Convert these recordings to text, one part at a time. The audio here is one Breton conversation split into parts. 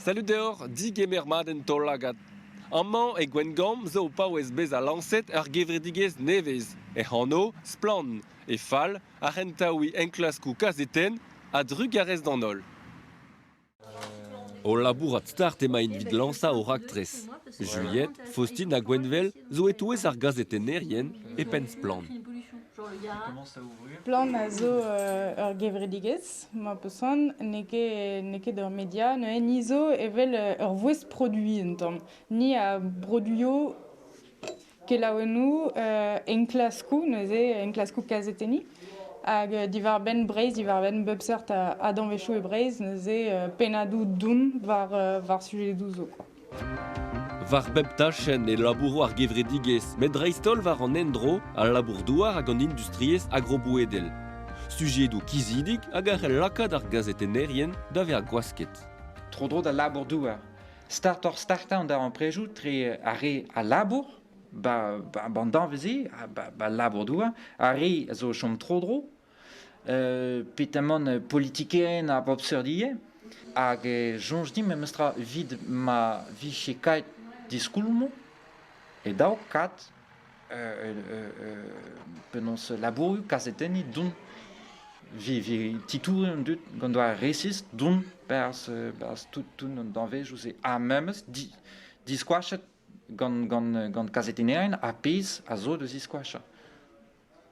Salud deoc'h, digemer mat en taol-lagad. Amañ e Gwengamp zo o paouez bezañ lañset ur gevredigezh nevez, hec'h anv Splann! e fal ar c'hentaouiñ enklaskoù kazetenn a-drugarez d'an holl. O labourat start emaint evit lañsañ o raktres. Juliette, Faustine ha Gwenvel zo e-touez ar gazetennerien e penn Splann! Splann! a zo ur gevredigezh Ma person n'eo ket, n'eo ket ur media, neuze ni zo evel ur vouezh produiñ un tamm. Ni a broduio kelaouennoù, enklaskoù, neuze enklaskoù kazetenniñ. Hag diwar-benn Breizh, diwar-benn bep seurt a danvezioù e Breizh, neuze pennadoù doun war, war sujedoù zo. War bep tachenn e labouro ar gevredigezh, met dreist-holl war an endro, al labour-douar hag an industriezh agrobouedel. Sujedoù kizidik hag a c'hell lakaat ar gazetennerien da vezañ gwasket. Tro-dro d'al labour-douar. Startoc'h-startañ an darempredoù tre ar re a labour, ba, ba, an danvez-se, ba, ba labour-douar, ar re a zo o chom tro-dro, petamant politikerien ar bobseurdiezh hag e soñj din memestra evit ma vije kaet diskoulmoù e daou kad penaos labourioù kazetenniñ dont vez titouret an dud gant doare resis dont berzh tout an danvezioù-se ha memes diskoachet gant kazetennerien ar pezh a zo da ziskoachañ.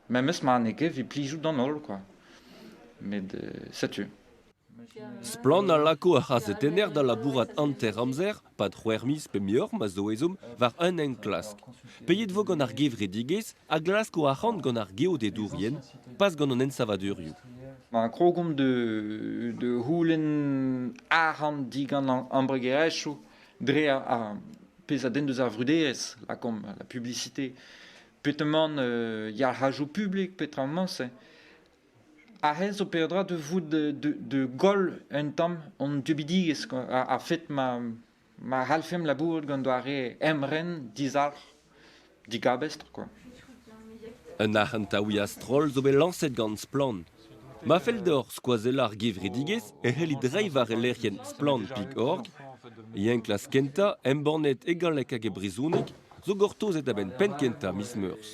Memes ma n'eo ket 'vit plijout d'an holl kwa. Met setu. Splann a lako ar c'hazetenner da labourat hanter-amzer, 'pad c'hwec'h miz pe muioc'h ma zo ezhomm, war un enklask. Peget 'vo gant ar gevredigezh a glask o arc'hant gant ar geodedourien, pas gant an ensavadurioù. Ma krogomp da da c'houlenn arc'hant digant an embregerezhioù dre ar pezh a denn deus ar vruderezh, lakaomp la publicité, petamant euh, yalc'hajoù publik petramañ-se aze zo peadra da vout da goll un tamm hon dieubidigezh a-fet ma ma c'hallfemp labourat gant doare emren dizalc'h digabestr quoi. Un arc'hant a ouia stroll zo bet lañset gant Splann! Ma fell deoc'h skoazellañ ar gevredigezh e c'hellit reiñ war e lec'hienn Splann.org e enklask kentañ embannet e galleg hag e brezhoneg zo gortozet a-benn penn-kentañ miz Meurzh.